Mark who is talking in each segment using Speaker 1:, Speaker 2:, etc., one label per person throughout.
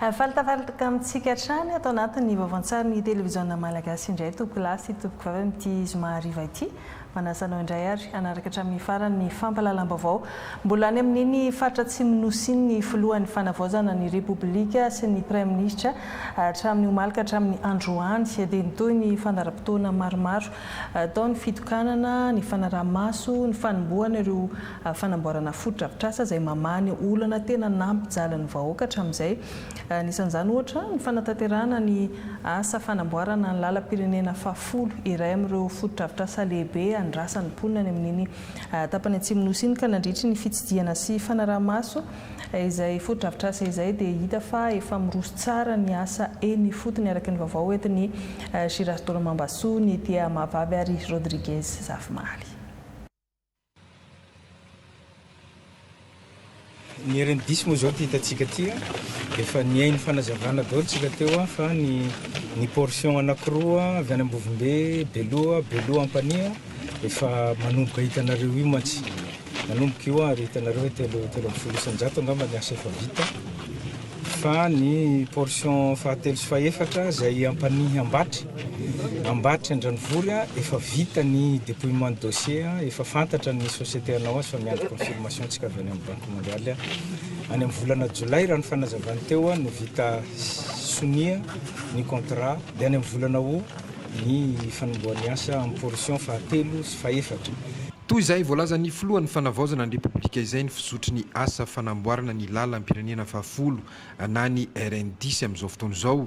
Speaker 1: Faly tafaritaka amintsika hatrany ato anatin'ny vaovaon-tsarin'ny televiziona malagasy indray Tompokolahy sy Tompokovavy amin'ity zoma hariva ity. Manasa anao indray ary hanaraka hatramin'ny farany ny fampahalalam-baovao. Mbola any amin'iny faritra Atsimon'ny Nosy iny ny filohan'ny fanavaozana ny Repoblika sy ny Praiminisitra hatramin'ny omaly ka hatramin'ny androany dia nitohy ny fandaharam-potoana maromaro tao ny fitokanana, ny fanaraha-maso, ny fanombohana ireo fanamboarana fotodrafitrasa izay mamaha ny olana tena nampijalin'ny vahoaka hatramin'izay. Anisan'izany ohatra ny fanatanterahana ny asa fanamboarana ny lalam-pirenena fahafolo, iray amin'ireo fotodrafitrasa lehibe andrasan'ny mponina any amin'iny tapany atsimon'ny Nosy iny ka nandritry ny fitsidihana sy fanaraha-maso izay fotodrafitrasa izay dia hita fa efa miroso tsara ny asa eny ifotony araka ny vaovao entin'i Girasdôla Mambasoa, Nithia Mahavavy ary Rodriguez Zafimaly.
Speaker 2: Ny herin diso moa zao ty hitantsika ty a, efa nihaino fanazavana daholo tsika teo a, fa ny ny portion anakiroa avy any Ambovombe, Beloha, Beloha Ampanihy efa manomboka hitanareo io mantsy, manomboka io ary hitanareo hoe telo telo amby folo isan-jato angamba ny asa efa vita. fa ny portion fahatelo sy fahefatra izay Ampanihy Ambatry, Ambatry Andranivory efa vita ny dépouillement de dossier, efa fantatra ny société hanao azy fa miandry confirmation ntsika avy any amin'ny banque mondiale any amin'ny volana jolay raha ny fanazavany teo no vita sonia ny contrat dia any amin'ny volana aout ny fanombohan'ny asa amin'ny portion fahatelo sy fahefatra. Toy izay
Speaker 3: voalazan'ny filohan'ny Fanavaozana ny Repoblika izay ny fizotry ny asa fanamboarana ny lalam-pirenena fahafolo na ny RN dix amin'izao fotoana izao.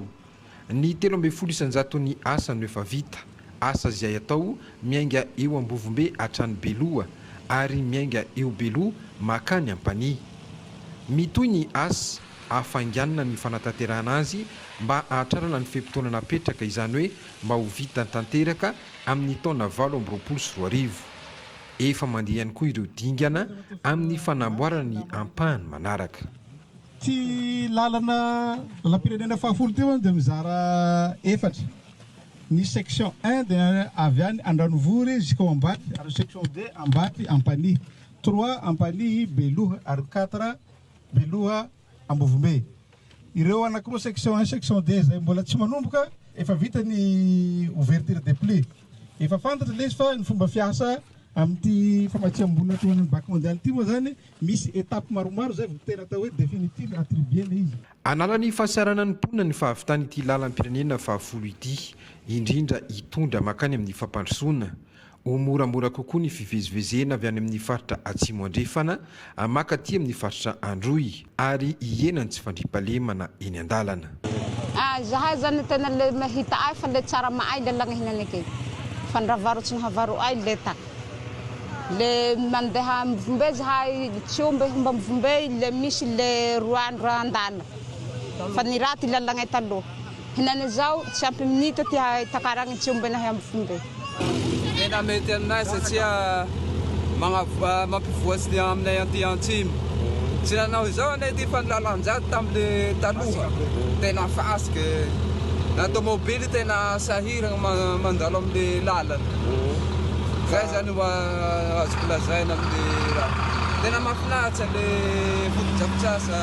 Speaker 3: Ny telo ambin'ny folo isan-jaton'ny asa no efa vita, asa izay atao miainga eo Ambovombe hatrany Beloha ary miainga eo Beloha mankany Ampanihy. Mitohy ny asa. hafainganina ny fanatanterahana azy mba hahatrarana ny fe-potoana napetraka, izany hoe mba ho vita tanteraka amin'ny taona valo amby roapolo sy roa arivo. Efa mandeha ihany koa ireo dingana amin'ny fanamboarana ny ampahany manaraka. Ity
Speaker 4: lalana lalam-pirenena fahafolo ity moa dia mizara efatra, ny section un dia avy any Andranovory jusqu'au Ambatoy ary ny section deux Ambatoy Ampanihy, trois Ampanihy Beloha ary quatre Beloha, Ambovombe. Ireo anankiroa section un, section deux izay mbola tsy manomboka efa vita ny ouverture des plus. Efa fantatra ilay izy fa ny fomba fiasa amin'ity famatsiam-bola atao any amin'ny Banque mondiale ity moa izany misy étapes maromaro izay vao tena atao hoe définitive attribuer ilay izy. Hanala ny fahasahiranan'ny
Speaker 3: mponina ny fahavitan'ity lalam-pirenena fahafolo ity, indrindra hitondra mankany amin'ny fampandrosoana. Ho moramora kokoa ny fivezivezena avy any amin'ny faritra Atsimo Andrefana maka aty amin'ny faritra Androy ary hihena ny tsy fandriampahalemana eny an-dalana. Ah zahay
Speaker 5: zany tena le mahita ay fa le tsara maay le lagna hinana ke fa ndra varo tsy nahavaro ay le ta le mandeha mivombe zahay tsy omby homba mivombe le misy le roa andro andana fa ny raty lalagnay taloha. Henane zao tsy ampy minitra ty hahay takaragny tsy omby nahy ambofomba e. Tena
Speaker 6: mety aminay satria mampivoatry ny aminay aty antsimo. Tsy nanao izao anie ty fa ny lalan-jady tamin'ny taloha tena fasika e. Na tomobily tena sahiragna mandalo amin'ny lalana. Zay zany no azoko lazaina amin'ny raha. Tena mahafinaritra le fotodrafitrasa.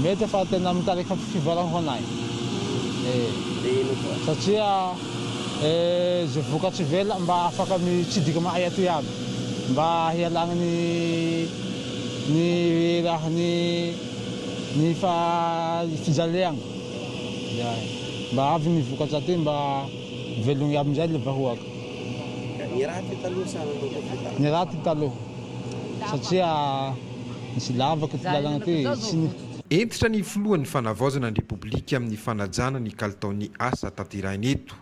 Speaker 7: Mety fa tena mitarika fivarahona e! Satria ze vokatra ivelany mba afaka mitsidika aminay aty aby mba hialana ny ny raha ny ny fijaleana zany mba avy ny vokatra aty mba velogny aby amizay le vahoaka. Ny raty taloha sa ny raty taloha satria. Nisy lavaka ity lalana ity e, tsy ny. Hentitra ny
Speaker 3: filohan'ny Fanavaozana ny Repoblika amin'ny fanajana ny kalitaon'ny asa tanterahina eto.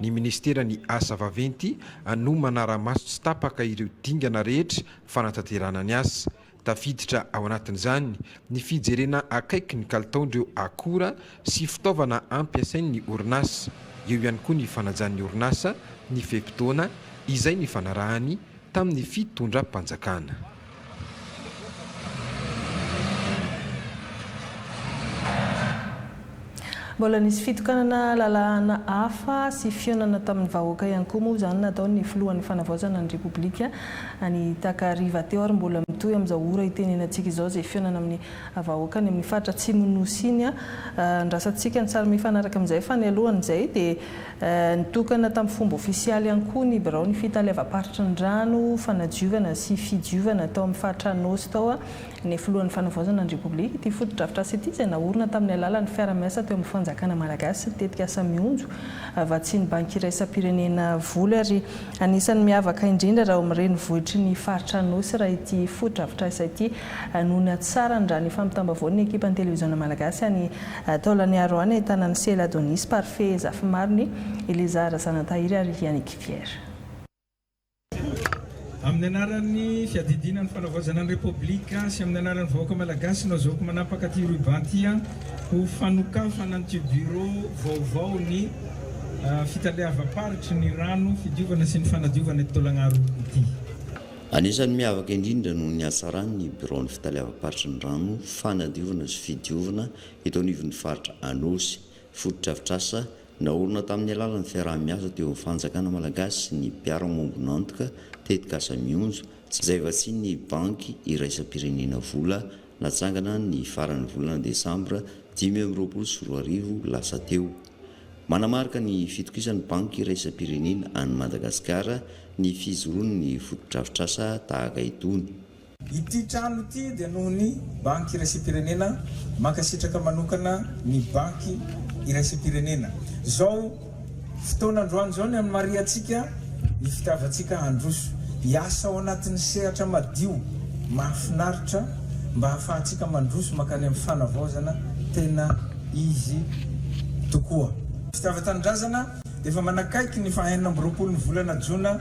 Speaker 3: Ny minisiteran'ny Asa vaventy no manara-maso tsy tapaka ireo dingana rehetra fanatanterahana ny asa. Tafiditra ao anatin'izany ny fijerena akaiky ny kalitaon'ireo akora sy fitaovana ampiasain'ny orinasa. Eo ihany koa ny fanajan'ny orinasa ny fe-potoana izay nifanarahany tamin'ny fitondram-panjakana.
Speaker 1: Mbola nisy fitokanana lalàna hafa sy fihaonana tamin'ny vahoaka ihany koa moa izany nataon'ny filohan'ny fanavaozana ny Repoblika any takariva teo ary mbola mitohy amin'izao ora itenenantsika izao izay fihaonana amin'ny vahoaka any amin'ny faritra atsimon'ny Nosy iny. Andrasantsika ny sary mifanaraka amin'izay fa ny alohan'izay dia Nitokana tamin'ny fomba ofisialy ihany koa ny biraon'ny Fitaleavam-paritry ny Rano, Fanadiovana sy Fidiovana tao amin'ny faritra Anôsy tao ny filohan'ny Fanavaozana ny Repoblika. Ity fotodrafitrasa ity dia naorina tamin'ny alalan'ny fiara-miasa teo amin'ny Fanjakana Malagasy sy ny tetikasa Mionjo vatsian'ny Banky Iraisam-pirenena voly ary anisan'ny miavaka indrindra raha ao amin'ny renivohitry ny faritra Anôsy raha ity fotodrafitrasa ity no niatsarany raha ny fampitam-baovaon'ny ekipan'ny Televiziona Malagasy any Taolany Aroany ahitana an'i Sela Adonis, Parfait Zafimarony, Elizara Zanatahiry ary Yannick Pierre.
Speaker 2: Amin'ny anaran'ny Fiadidiana ny Fanavaozana ny Repoblika sy amin'ny anaran'ny vahoaka Malagasy no azahoako manapaka ity ruban ity ho fanokafana an'ity Bureau vaovao ny Fitaleavam-paritry ny Rano, Fidiovana sy ny Fanadiovana eto Taolagnaro ity. Anisan'ny
Speaker 8: miavaka indrindra noho ny hatsarany ny biraon'ny fitaleavam-paritry ny rano fanadiovana sy fidiovana eto anivon'ny faritra Anôsy. Fotodrafitrasa naorina tamin'ny alalan'ny fiaraha-miasa teo amin'ny fanjakana malagasy sy ny mpiara-miombon'antoka, tetikasa Mionjo, tsy izay vatsian'ny Banky iraisam-pirenena vola natsangana ny faran'ny volana desambra dimy amby roapolo sy roa arivo lasa teo. Manamarika ny fitokisan'ny Banky Iraisam-pirenena an'i Madagasikara ny fijoroan'ny fotodrafitrasa tahaka itony. Ity trano
Speaker 2: ity dia noho ny Banky Iraisam-pirenena, mankasitraka manokana ny Banky Iraisam-pirenena. Izao fotoana androany izao ny hanamarihantsika ny fitiavantsika handroso, hiasa ao anatin'ny sehatra madio, mahafinaritra mba hahafahantsika mandroso mankany amin'ny fanavaozana tena. izy tokoa. Fitiava tanindrazana, Efa manakaiky ny faha enina amby roapolo ny volana jona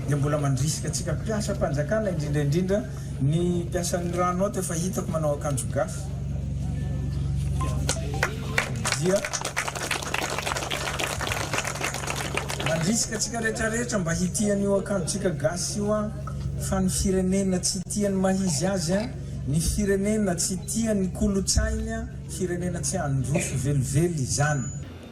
Speaker 2: dia mbola mandrisika antsika mpiasa mpanjakana indrindra indrindra ny mpiasan'ny rano ato efa hitako manao akanjo gasy dia mandrisika antsika rehetra rehetra mba hitia an'io akanjotsika gasy io an fa ny firenena tsy tia ny mahizy azy an ny firenena tsy tia ny kolotsainy an Firenena tsy handroso velively izany.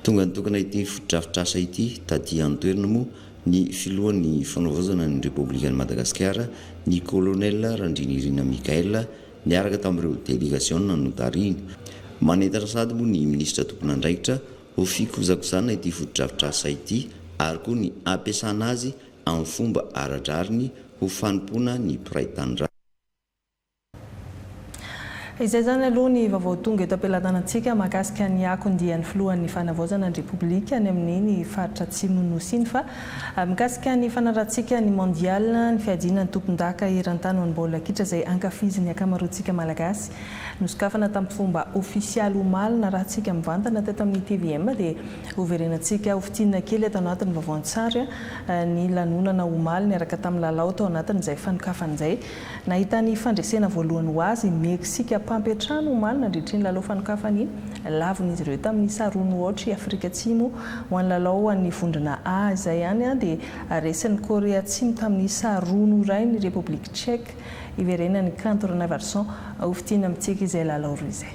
Speaker 2: Tonga nitokana
Speaker 8: ity fotodrafitrasa ity taty an-toerana moa ny filohan'ny Fanavaozana ny Repoblikan'i Madagasikara, ny Colonel Randrianirina Michaël, niaraka tamin'ireo delegasiona notarihiny. Manentana sady moa ny minisitra tompon'andraikitra ho fikozakojana ity fotodrafitrasa ity ary koa ny hampiasana azy amin'ny fomba ara-drariny ho fanompoana ny mpiray tanindrazana.
Speaker 1: Izay izany aloha ny vaovao tonga eto am-pelatanantsika mahakasika ny akon dian'ny filohan'ny fanavaozana ny repoblika any amin'ny ny faritra atsimon'ny nosy iny fa mikasika ny fanarahantsika ny mondial ny fiadiana ny tompondaka eran-tany ho an'ny baolina kitra izay ankafizin'ny ankamaroantsika malagasy nosokafana tamin'ny fomba ofisialy omaly narahantsika mivantana teto amin'ny tvm dia hoverenantsika ho fintinina kely eto anatin'ny vaovao an-tsary ny lanonana omaly niaraka tamin'ny lalao tao anatin'izay fanokafana izay Nahita ny fandresena voalohany ho azy i Meksika mpampiantrano omaly nandritry ny lalao fanokafan'ny lavon'izy ireo tamin'ny sa roa nohaotra i Afrika Atsimo ho an'ny lalao ho an'ny vondrona A. Izay ihany dia resin'i Korea Atsimo tamin'ny sa roa no iray ny Repoblika Tchèque hiverenan'ny kanto Ranaivoarison ho fidiana mitsika izay lalao roa izay.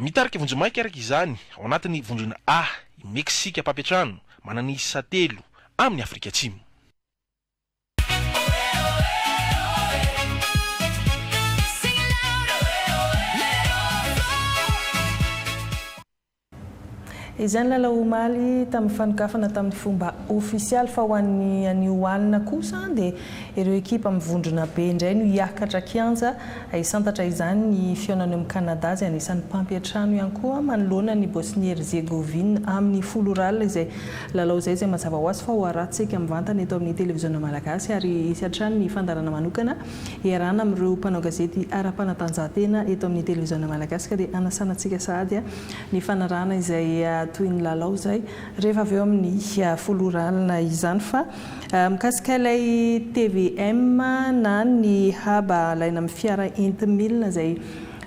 Speaker 9: Mitarika vonjimaika
Speaker 10: araka izany ao anatin'ny vondrona A i Meksika mpampiantrano manana isa telo amin'ny Afrika Atsimo.
Speaker 1: Izay nilalao omaly tamin'ny fanokafana tamin'ny fomba ofisialy fa ho an'ny anio alina kosa dia ireo ekipa mivondrona be indray no hiakatra kianja hisantatra izany. Ny fihaonana eo amin'ny Canada izay anisan'ny mpampiantrano ihany koa manoloana an'i Bosnie-Herzégovine amin'ny folo ora alina izay lalao izay izay mazava hoazy fa hoarahantsika mivantana eto amin'ny televiziona malagasy ary hisy hatrany ny fandaharana manokana hiarahana amin'ireo mpanao gazety ara-panatanjahantena eto amin'ny televiziona malagasy ka dia hanasana antsika sahady ny fanarahana izay toy ny lalao izay rehefa avy eo amin'ny folo ora alina izany fa mikasika ilay tvm na ny haba alaina amin'ny fiara enti-milina izay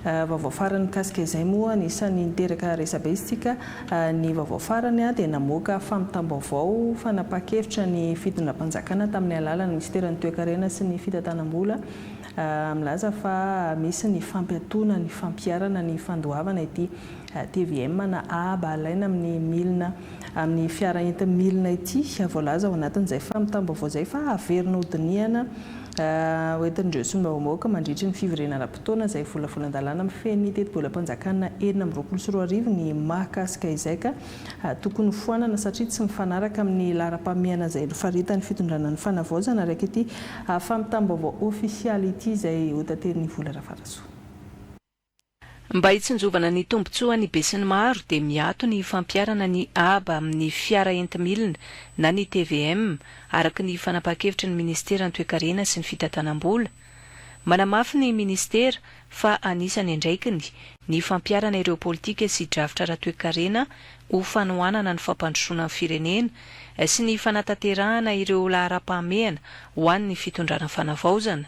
Speaker 1: vaovao farany mikasika izay moa anisan'ny niteraka resabe isika ny vaovao farany dia namoaka fampitam-baovao fanapahan-kevitra ny fitondram-panjakana tamin'ny alalan'ny minisiteran'ny toekarena sy ny fitantanam-bola Milaza fa misy ny fampiatoana ny fampiharana ny fandoavana ity tvm na aba alaina amin'ny milina amin'ny fiara enti-milina ity. Voalaza ao anatin'izay fampitam-baovao izay fa haverina ho dinihana ho entin'ireo solombavambahoaka mandritra ny fivoriana ara-potoana izay volavolan-dalàna mifehy ny tetibolam-panjakana enina amby roapolo sy roa arivo ny mahakasika izay ka Tokony hofoanana satria tsy mifanaraka amin'ny laharam-pahamehana izay nofaritan'ny fitondrana ny fanavaozana araka ity fampitam-baovao ofisialy ity izay hotaterin'i Vola Rafarasoa.
Speaker 11: Mba hitsinjovana ny tombontsoan'ny besinimaro dia miato ny fampiharana ny haba amin'ny fiara enti-milina na ny tvm, araka ny fanapahan-kevitry ny minisiteran'ny Toekarena sy ny fitantanam-bola, Manamafy ny Minisitera fa anisan'ny andraikiny ny fampiharana ireo politika sy drafitra ara-toekarena ho fanohanana ny fampandrosoana ny firenena sy ny fanatanterahana ireo laharam-pahamehana ho an'ny Fitondrana Fanavaozana.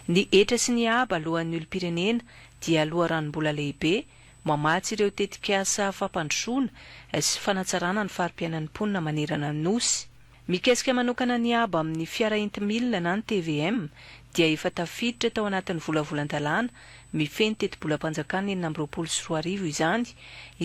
Speaker 11: Ny hetra sy ny haba aloan'ny olom-pirenena dia loharanom-bola lehibe mamatsy ireo tetikasa fampandrosoana sy fanatsarana ny fari-piainan'ny mponina manerana ny Nosy. Mikesika manokana ny abo amin'ny fiara enti-milina na ny tvm dia efa tafiditra tao anatin'ny volavolan-dalàna mifehy ny tetibolam-panjakana enina amby roapolo sy roa arivo izany,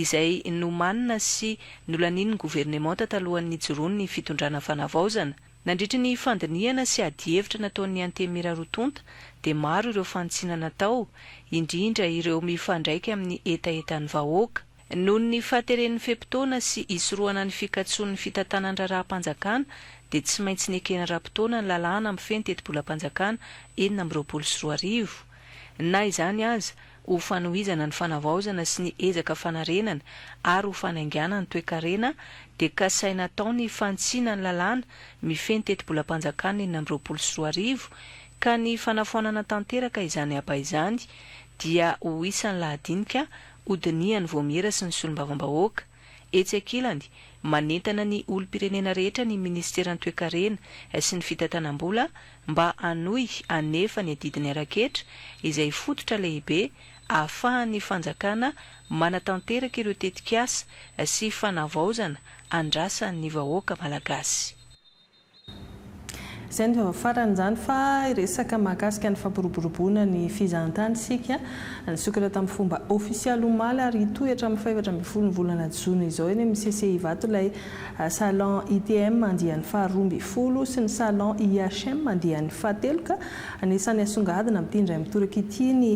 Speaker 11: izay nomanina sy nolanian'ny governemanta talohan'ny nijoroan'ny fitondrana Fanavaozana. Nandritry ny fandinihana sy adihevitra nataon'ny Antenimieranroatonta dia maro ireo fanitsiana natao, indrindra ireo mifandraika amin'ny hetahetan'ny vahoaka. Noho ny fahateren'ny fe-potoana sy hisorohana ny fikatsoan'ny fitantanan-draharaham-panjakana dia tsy maintsy nekena ara-potoana ny lalàna mifehy ny tetibolam-panjakana enina amby roapolo sy roa arivo. Na izany aza, ho fanohizana ny fanavaozana sy ny ezaka fanarenana ary ho fanainganana ny toekarena dia kasaina atao ny fanitsiana ny lalàna mifehy ny tetibolam-panjakana enina amby roapolo sy roa arivo ka ny fanafoanana tanteraka izany aba izany dia ho isan'ny lahadinika hodinihan'ny Vaomiera sy ny Solombavambahoaka. Etsy ankilany, manentana ny olom-pirenena rehetra ny Minisiteran'ny Toekarena sy ny Fitantanam-bola mba hanohy hanefa ny adidiny ara-ketra izay fototra lehibe ahafahan'ny fanjakana manatanteraka ireo tetikasa sy fanavaozana andrasan'ny vahoaka malagasy.
Speaker 1: Izay no vao farany izany fa hiresaka mahakasika ny fampiroboroboana ny fizahantany isika. Nisokatra tamin'ny fomba ofisialy omaly ary hitohy hatramin'ny fahefatra ambin'ny folo ny volana jona izao eny amin'ny CCI Ivato ilay Salon ITM andiany faharoa ambin'ny folo sy ny Salon IHM andiany fahatelo ka anisan'ny hasongadina amin'ity indray mitoraka ity ny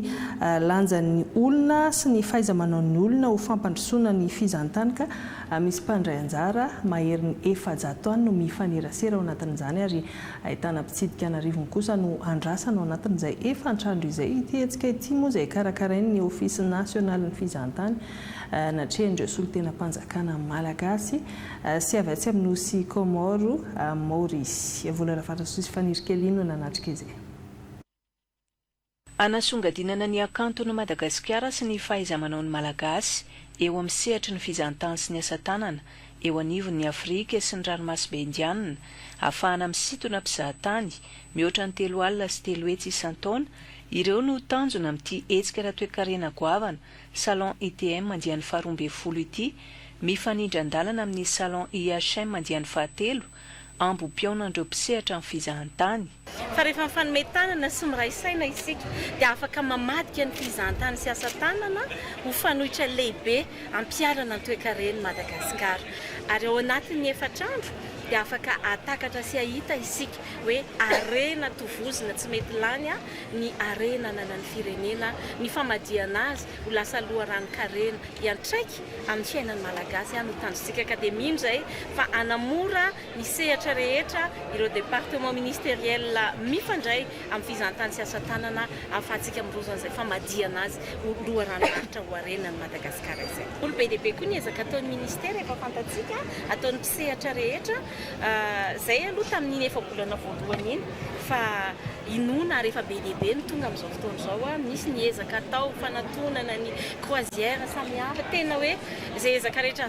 Speaker 1: lanjan'ny olona sy ny fahaiza-manaon'ny olona ho fampandrosoana ny fizahantany ka Misy mpandray anjara maherin'ny efajato any no mifanerasera ao anatin'izany ary ahitana mpitsidika an'arivony kosa no andrasana ao anatin'izay efantrandro izay. Ity hetsika ity moa izay karakarain'ny Ofisy Nasionalin'ny Fizahantany natrehan'ireo solontenam-panjakana malagasy sy avy atsy amin'ny Nosy Kaomaoro, Maorisy. Vola Ravarasosy Fanirikelina no nanatrika izay.
Speaker 11: Hanasongadinana ny hakanton'i Madagasikara sy ny fahaiza-manaon'ny Malagasy eo amin'ny sehatry ny fizahantany sy ny asa tanana eo anivon'ny Afrika sy ny Ranomasimbe Indianina, hafahana misintona mpizahatany mihoatra ny telo alina sy telo hetsy isan-taona, ireo no tanjona amin'ity hetsika ara-toekarena goavana Salon ITM andiany faharoa ambin'ny folo ity, mifanindran-dalana amin'ny Salon IHM andiany fahatelo, ambom-pihaonan'ireo mpisehatra amin'ny fizahantany. Fa rehefa mifanome
Speaker 12: tanana sy miray saina isika, dia afaka mamadika ny fizahantany sy asa tanana ho fanoitra lehibe hampiharana ny toekaren'i Madagasikara. Ary ao anatin'ny efatra andro dia afaka hahatakatra sy hahita isika hoe harena tovozina tsy mety lany ny harena ananan'ny firenena, ny famadihana azy ho lasa loharanon-karena hiantraika amin'ny fiainan'ny Malagasy no tanjontsika ka dia mino izay fa hanamora ny sehatra rehetra, ireo départements ministériels mifandray amin'ny fizahantany sy asatanana ahafahantsika miroso an'izay famadihana azy ho loharanom-paritra ho harenan'i Madagasikara izay. Mbola be dia be koa ny ezaka ataon'ny Ministera efa fantatsika, ataon'ny mpisehatra rehetra, izay aloha tamin'iny efa-bolana voalohany iny fa inoana ary efa be dia be ny tonga amin'izao fotoana izao, misy ny ezaka atao fanatonana ny croisière samihafa, tena hoe izay ezaka rehetra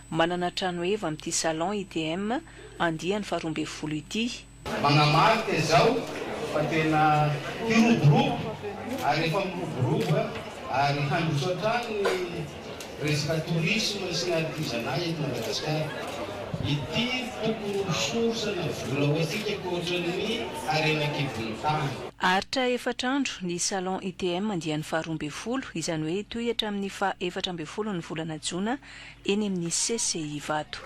Speaker 11: Manana trano heva amin'ity Salon ITM andiany faharoa ambin'ny folo ity. Manamarika
Speaker 13: izao fa tena hiroborobo ary efa miroborobo ary handroso hatrany ny resaka tourisme sy ny artisanat eto Madagasikara. Ity tokony ho source ana vola ho antsika ankoatra ny harena an-kibon'ny tany. Aharitra
Speaker 11: efatra andro ny Salon ITM andiany faharoa ambin'ny folo, izany hoe hitohy hatramin'ny faha efatra ambin'ny folo ny volana jona eny amin'ny CCI Ivato.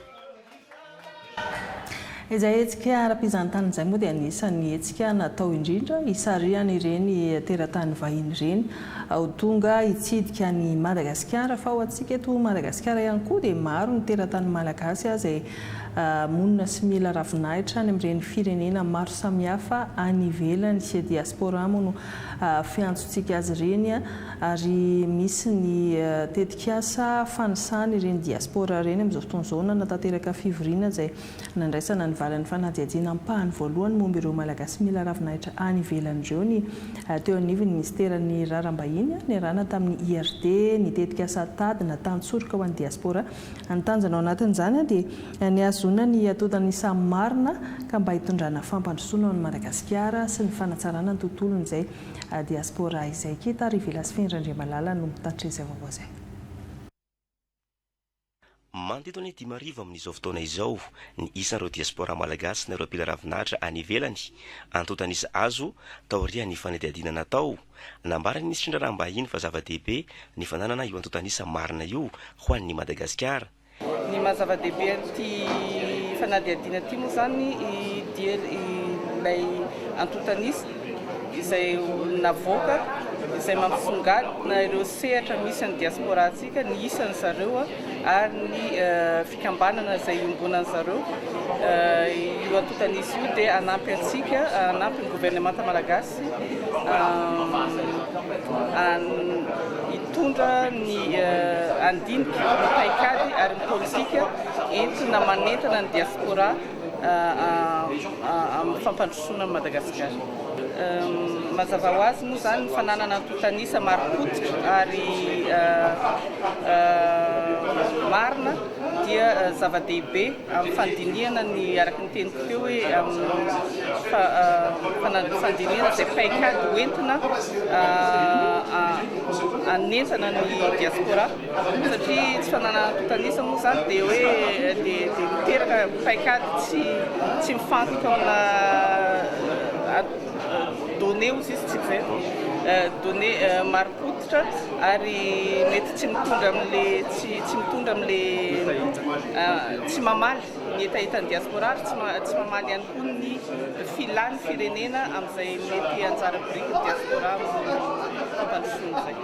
Speaker 1: Izay hetsika ara-pizahantany izay moa dia anisan'ny hetsika natao indrindra hisarihana ireny teratany vahiny ireny ho tonga hitsidika an'i Madagasikara fa ho antsika eto Madagasikara ihany koa dia maro ny teratany malagasy izay monina sy mila ravinahitra any amin'ireny firenena maro samihafa any ivelany, diaspora moa no fiantsontsika azy ireny. ary misy ny tetikasa fanisana ireny diaspora ireny amin'izao fotoana izao nanatanteraka fivoriana izay nandraisana ny valin'ny fanadihadiana ampahany voalohany momba ireo Malagasy mila ravinahitra any ivelany ireo ny teo anivon'ny minisiteran'ny Raharaham-bahiny niarahana tamin'ny IRD ny tetikasa tady na tantsoroka ho an'ny diaspora ny tanjona ao anatin'izany dia ny hahazoana ny atodiny ny samy marina ka mba hitondrana fampandrosoana ho an'i Madagasikara sy ny fanatsarana ny tontolony izay Diaspora izay keta ary Velasfin Randriamalala no mitatitra izay vaovao izay.
Speaker 14: Manodidina ny dimy arivo amin'izao fotoana izao ny isan'ireo diaspora malagasy na ireo mpila ravin'Atra any ivelany, antontan'isa azo taorian'ny fanadihadiana natao. Nambaran'ny minisitry ny Raharaham-bahiny fa zava-dehibe ny fananana io antontan'isa marina io ho an'ny Madagasikara. Ny maha
Speaker 15: zava-dehibe an'ity fanadihadiana ity moa izany i diel ilay antontanisa izay navoaka izay mampisongadina ireo sehatra misy ny diaspora antsika ny isan'ny zareo ary ny fikambanana izay iombonan'ny zareo io antontanisa io dia anampy antsika anampy ny governemanta malagasy Mitondra ny handinika, ny paikady ary ny politika entina manentana ny diaspora amin'ny fampandrosoana an'i Madagasikara. Mazava ho azy moa izany ny fananana antontan'isa marim-pototra ary marina dia zava-dehibe. Amin'ny fandinihana ny, araka ny teniko teo hoe, amin'ny fandinihana izay paikady ho entina anenjana ny diaspora satria tsy fananan'antotanisa moa izany dia hoe dia miteraka paikady tsy tsy mifantoka amina données ozy izy tsy izay données maripot ary mety tsy mitondra amle tsy tsy mitondra amle tsy mamaly ny hetahetan'ny diaspora ary tsy tsy mamaly ihany koa ny filan'ny firenena amin'izay mety anjara birikin'ny diaspora fampandrosoana izay.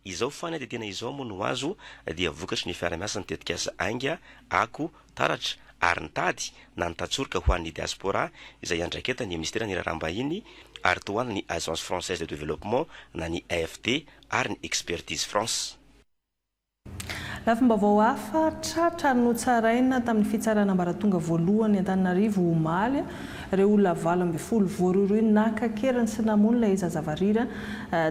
Speaker 15: Izao fany
Speaker 14: dia tena izao moa no azo dia vokatry ny fiarahamiasa ny tetikasa Ainga, Ako, taratra ary nitady na nitatsorika ho an'ny diaspora izay iandraiketan'ny Minisiteran'ny Raharaham-bahiny ary tohalin'ny Agence Française de Développement na ny AFD ary ny Expertise France. Lafim-baovao
Speaker 1: hafa tratra notsaraina tamin'ny fitsarana ambaratonga voalohany Antananarivo omaly, ireo olona valo ambin'ny folo voarohirohy naka an-keriny sy namono ilay zaza varira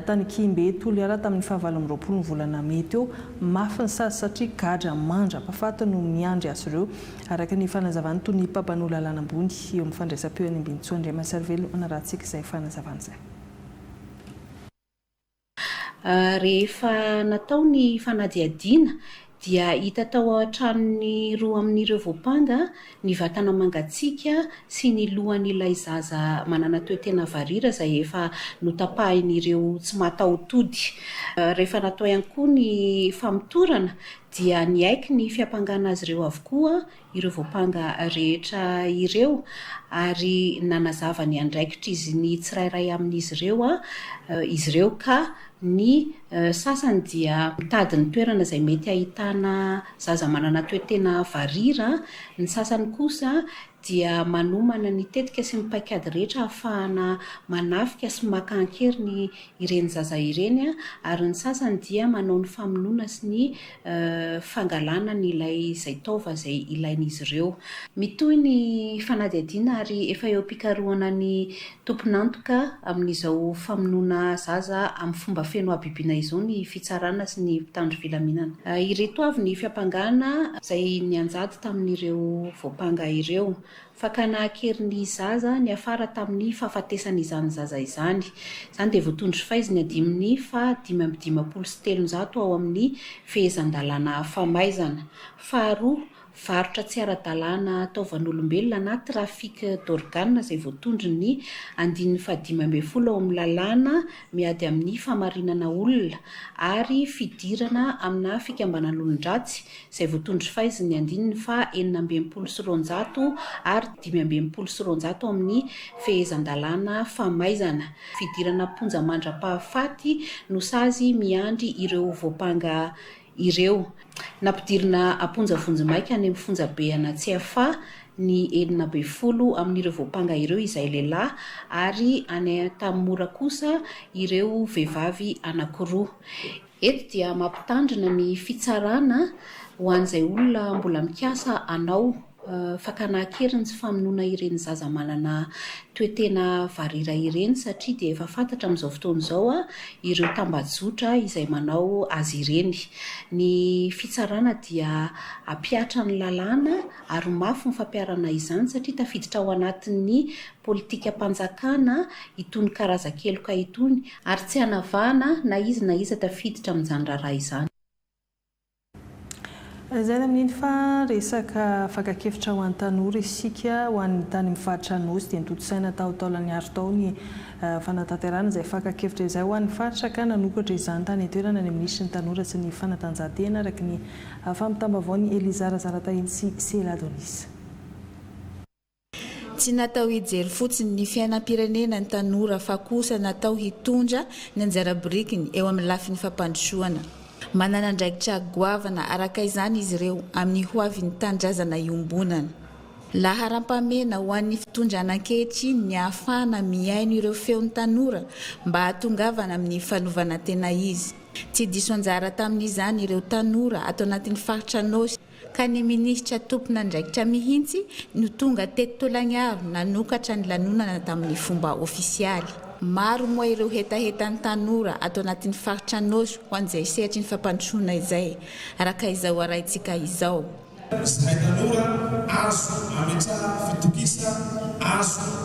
Speaker 1: tany Kihimbé Toliara tamin'ny fahavalo amby roapolo ny volana mey teo. Mafy ny sazy satria gadra mandra-pahafaty no miandry azy ireo, araka ny fanazavan'ny tonia mpampanao lalàna ambony eo amin'ny fandraisam-peo any Ambinintsoa, Andriamasarivelo hanarahantsika izay fanazavana izay.
Speaker 16: Rehefa natao ny fanadihadiana dia hita tao an-tranon'ny roa amin'ireo voampanga ny vatana mangatsiaka sy ny lohan'ilay zaza manana toe-tena varira izay efa notapahin'ireo tsy mataho-tody. Rehefa natao ihany koa ny famotorana dia niaiky ny fiampangana azy ireo avokoa ireo voampanga rehetra ireo ary nanazava ny andraikitr'izy ny tsirairay amin'izy ireo izy ireo ka ny Sasany dia mitady ny toerana izay mety ahitana zaza manana toe-tena varira, ny sasany kosa dia manomana ny tetika sy ny paikady rehetra ahafahana manafika sy maka an-keriny ireny zaza ireny, ary ny sasany dia manao ny famonoana sy ny fangalana ny ilay izay taova izay ilain'izy ireo. Mitohy ny fanadihadiana ary efa eo am-pikarohana ny tompon'antoka amin'izao famonoana zaza amin'ny fomba feno habibiana izao ny fitsarana sy ny mpitandro filaminana. Ireto avy ny fiampangana izay nianjady tamin'ireo voampanga ireo, Fakana an-keriny ny zaza niafara tamin'ny fahafatesan'izany zaza izany. Izany dia voatondro sy faizy ny andininy faha dimy amby dimampolo sy telonjato ao amin'ny Fehezan-dalàna famaizana. Faharoa, varotra tsy ara-dalàna taovan'olombelona na trafic d'organes izay voatondron'ny andininy fahadimy ambin'ny folo ao amin'ny lalàna miady amin'ny fahamarinana olona ary fidirana amina fikambanan'olon-dratsy, izay voatondro sy faizin'ny andininy faha enina amby enimpolo sy roanjato ary dimy amby enimpolo sy roanjato amin'ny Fehezan-dalàna famaizana fidirana am-ponja mandra-pahafaty no sazy miandry ireo voampanga ireo. Nampidirina am-ponja vonjimaika any amin'ny fonjabe Anatsiafa ny enina ambin'ny folo amin'ireo voampanga ireo izay lehilahy ary any Antanimora kosa ireo vehivavy anankiroa. Eto dia mampitandrina ny fitsarana ho an'izay olona mbola mikasa hanao. Fakana an-keriny sy famonoana ireny zaza manana toe-tena varira ireny satria dia efa fantatra amin'izao fotoana izao ireo tambajotra izay manao azy ireny. Ny fitsarana dia hampihatra ny lalàna ary mafy ny fampiharana izany satria tafiditra ao anatin'ny politikam-panjakana itony karazan-keloka itony, ary tsy hanavahana na iza na iza tafiditra amin'izany raharaha izany.
Speaker 1: Lazaina amin'iny fa resaka fakan-kevitra ho an'ny tanora isika ho an'ny tany amin'ny faritra Anosy dia notontosaina tao Taolagnaro tao ny fanatanterahana izay fakan-kevitra izay ho an'ny faritra ka nanokatra izany tany an-toerana ny minisitry ny tanora sy ny fanatanjahantena araka ny fampitam-baovaon'i Eliza Razaratahiny sy Sela Donisa.
Speaker 17: Tsy natao hijery fotsiny ny fiainam-pirenena ny tanora fa kosa natao hitondra ny anjara birikiny eo amin'ny lafiny fampandrosoana. Manana andraikitra goavana araka izany izy ireo amin'ny hoavin'ny tanindrazana iombonana. Laharam-pahamehana ho an'ny fitondrana ankehitriny ny ahafahana mihaino ireo feon'ny tanora mba hahatongavana amin'ny fanovanan-tena izy. Tsy diso anjara tamin'izany ireo tanora ato anatin'ny faritra Anôsy. ka ny minisitra tompon'andraikitra mihitsy no tonga teto Tolagnaro nanokatra ny lanonana tamin'ny fomba ofisialy. Maro moa ireo hetahetan'ny tanora ato anatin'ny faritra Anôsy ho an'izay sehatry ny fampandrosoana izay, araka izao arahintsika izao. Zahay tanora azo
Speaker 18: ametrahana fitokisana azo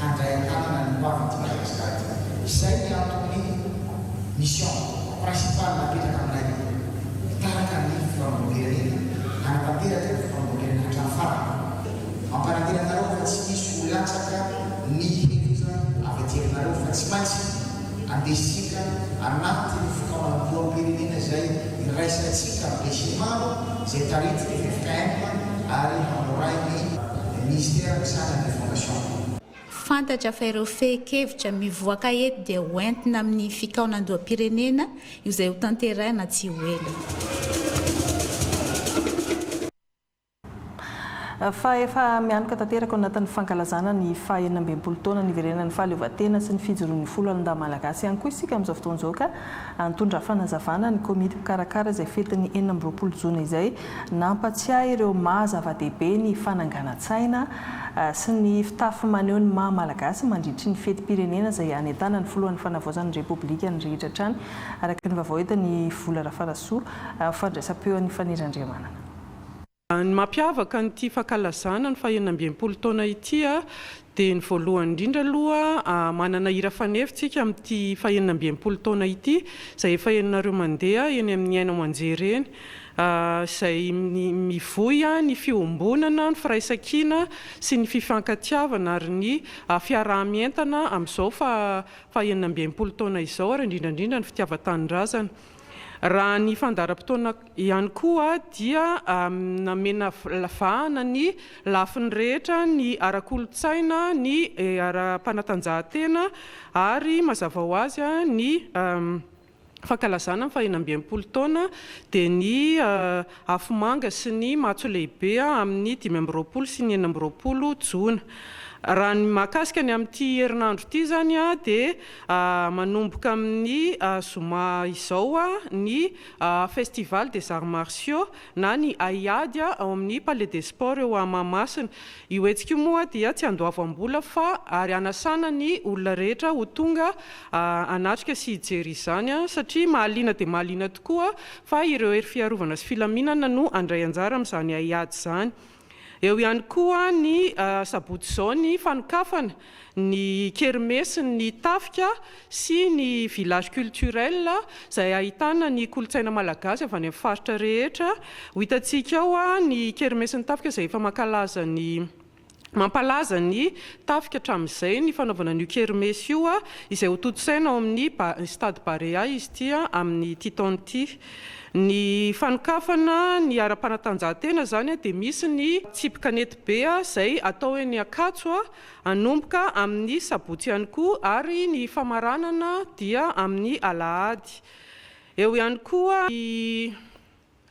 Speaker 19: handray an-tanana ny hoavy eto Madagascar ity. Izay ny anton'ny mission principale napetraka aminay hitarika ny fihaonam-pirenena, hanatanteraka ny fihaonam-pirenena hatramin'ny farany. Mampanantena anareo fa tsy misy ho latsaka ny heloka avy aty aminareo fa tsy maintsy andesika anatin'ny fikaonam-poham-pirenena izay iraisantsika besinimaro izay taritin'ny ffkm ary hamorain'ny Minisitera misahana ny Fondation. Fantatra
Speaker 17: fa ireo fehin-kevitra mivoaka eto dia ho entina amin'ny fikaonandoham-pirenena io izay ho tanterahina tsy ho ela.
Speaker 1: Fa efa mianoka tanteraka ao anatin'ny fankalazana ny faha enina ambin'ny folo taona niverenan'ny fahaleovantena sy ny fijoroan'ny folo alin-dahy malagasy ihany koa isika amin'izao fotoana izao ka nitondra fanazavana ny komity mpikarakara izay fetin'ny enina amby roapolo jona izay Nampatsiahy ireo maha zava-dehibe ny fananganan-tsaina sy ny fitafy maneho ny maha Malagasy mandritry ny fetim-pirenena izay hanentanana ny Filohan'ny Fanavaozan'ny Repoblika ny rehetra hatrany, araka ny vaovao entin' i Vola Rafarasoa amin'ny fandraisam-peo an'i Faniry Andriamanana.
Speaker 20: Ny mampiavaka an'ity fankalazana ny fahenina amby enimpolo taona ity Dia ny voalohany indrindra aloha, manana hira fanefy tsika amin'ity fahenina amby enimpolo taona ity, izay efa henonareo mandeha eny amin'ny haino aman-jery eny, izay mivoy ny fiombonana, ny firaisan-kina sy ny fifankatiavana ary ny fiaraha-mientana amin'izao fahenina amby enimpolo taona izao ary indrindra indrindra ny fitiavan-tanindrazana. Raha ny fandaharam-potoana ihany koa dia namena vahana ny lafiny rehetra, ny ara-kolontsaina, ny ara-panatanjahantena ary mazava ho azy ny fankalazana ny fahenina amby enimpolo taona dia ny Afomanga sy ny Matso Lehibe amin'ny dimy amby roapolo sy ny enina amby roapolo jona. Raha ny mahakasika ny amin'ity herinandro ity izany dia manomboka amin'ny zoma izao ny Festival des Arts Martiaux na ny Haiady ao amin'ny Palais des Sports eo Mahamasina. Io hetsika io moa dia tsy andoavam-bola fa ary hanasana ny olona rehetra ho tonga hanatrika sy hijery izany, satria mahaliana dia mahaliana tokoa fa ireo hery fiarovana sy filaminana no handray anjara amin'izany haiady izany. Eo ihany koa ny sabotsy izao ny fanokafana ny kermesin'ny tafika sy ny village culturel izay ahitana ny kolontsaina malagasy avy any amin'ny faritra rehetra. Ho hitantsika ao ny kermesin'ny tafika izay efa mankalaza ny. Mampalaza ny tafika hatramin'izay ny fanaovana an'io kermesy io izay hotontosaina ao amin'ny Stade Barea izy ity amin'ity taona ity. Ny fanokafana ny ara-panatanjahantena izany dia misy ny tsipy kanety be izay atao eny Ankatso hanomboka amin'ny sabotsy ihany koa ary ny famaranana dia amin'ny alahady. Eo ihany koa ny.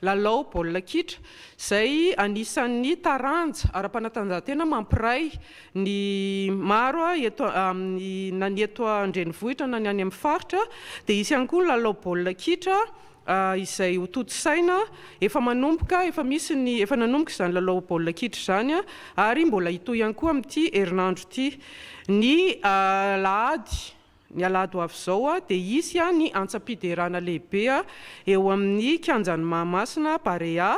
Speaker 20: Lalao baolina kitra, izay anisan'ny taranja ara-panatanjahantena mampiray ny maro eto amin'ny, na ny eto an-drenivohitra na ny any amin'ny faritra, dia hisy ihany koa ny lalao baolina kitra izay hotontosaina, efa manomboka, efa misy ny, efa nanomboka izany lalao baolina kitra izany ary mbola hitohy ihany koa amin'ity herinandro ity, ny alahady. Ny alahady ho avy izao dia hisy ny antsam-piderana lehibe eo amin'ny Kianjan'i Mahamasina, Barea.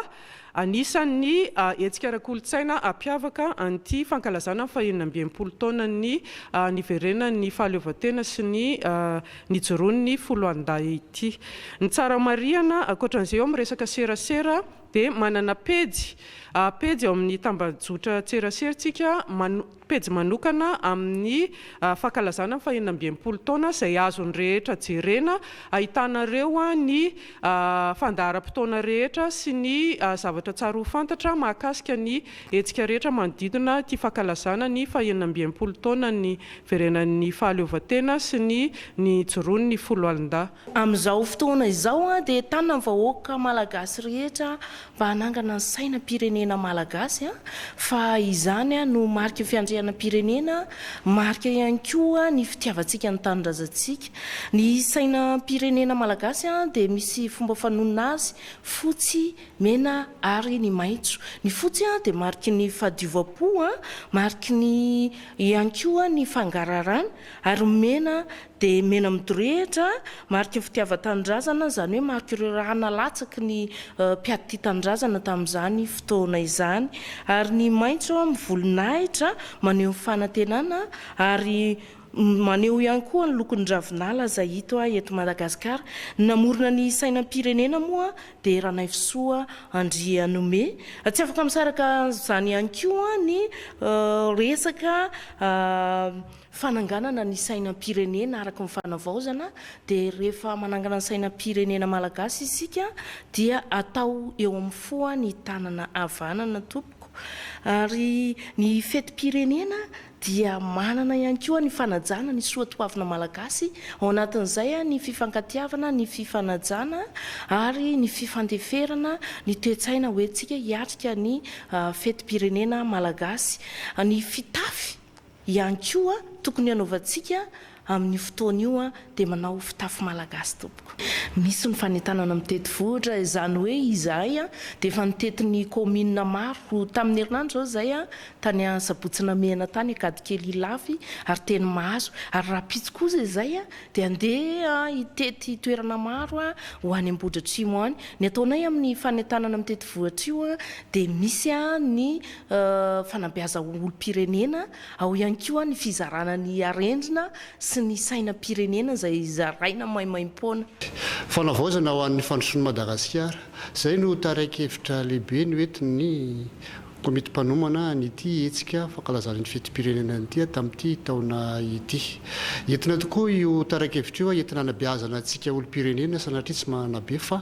Speaker 20: Anisan'ny hetsika ara-kolontsaina hampiavaka an'ity fankalazana ny fahenina amby enimpolo taonan'ny niverenan'ny fahaleovantena sy ny nijoroan'ny foloalindahy ity. Ny tsara marihana, ankoatra an'izay eo amin'ny resaka serasera dia manana pejy pejy ao amin'ny tambajotran-tserasera isika Pejy manokana amin'ny fankalazana ny fahenina amby enimpolo taona izay azon'ny rehetra jerena, ahitanareo ny fandaharam-potoana rehetra sy ny zavatra tsara ho fantatra mahakasika ny hetsika rehetra manodidina ity fankalazana ny fahenina amby enimpolo taona niverenan'ny fahaleovantena sy ny nijoroan'ny foloalindahy. Amin'izao fotoana
Speaker 21: izao dia entanina ny vahoaka malagasy rehetra mba hanangana ny sainam-pirenena malagasy fa izany no mariky ny fiandrianam-pirenena, marika ihany koa ny fitiavantsika ny tanindrazantsika. Ny sainam-pirenena malagasy dia misy fomba fanonona azy, fotsy, mena ary ny maitso. Ny fotsy dia mariky ny fahadiovam-po, mariky ny ihany koa ny fangararana ary ny mena Dia mena midorehitra, mariky ny fitiavan-tanindrazana, izany hoe mariky ireo raha nalatsaky ny mpiady tia tanindrazana tamin'izany fotoana izany. Ary ny maitso mivolonahitra, maneho ny fanantenana, ary maneho ihany koa ny lokon'ny ravinala izay hito eto Madagasikara. Ny namorona ny sainam-pirenena moa dia Ranaivosoa Andrianome. Tsy afaka misaraka an'izany ihany koa ny resaka. Fananganana ny sainam-pirenena araka ny fanavaozana dia rehefa manangana ny sainam-pirenena malagasy isika dia atao eo amin'ny foa ny tanana havanana tompoko ary ny fetim-pirenena dia manana ihany koa ny fanajana ny soa toavina malagasy ao anatin'izay ny fifankatiavana ny fifanajana ary ny fifandeferana ny toe-tsaina hoentsika hiatrika ny fetim-pirenena malagasy ny fitafy Ihany koa tokony hanaovantsika amin io fotoana io dia manao fitafy malagasy tompoko. Misy ny fanentanana mitety vohitra, izany hoe izahay dia efa nitety ny kaominina maro tamin'ny herinandro izao izay tany Sabotsy Namehana tany Ankadikely Ilafy ary teny Mahazo ary rahampitso kosa izay dia handeha hitety toerana maro ho any Ambohidratrimo any. Ny ataonay amin'ny fanentanana mitety vohitra io dia misy ny fanabeaza ho olom-pirenena, ao ihany koa ny fizarana ny arendrina sy ny sainam-pirenena izay zaraina maimaim-poana. Fanavaozana
Speaker 4: ho an'ny fandrosoan'i Madagasikara. Izay no tarian-kevitra lehibe noentin'ny komity mpanomana an'ity hetsika fankalazana ity fetim-pirenena ity tamin'ity taona ity. Entina tokoa io tarian-kevitra io entina hanabeazana antsika olom-pirenena sanatria tsy manabe fa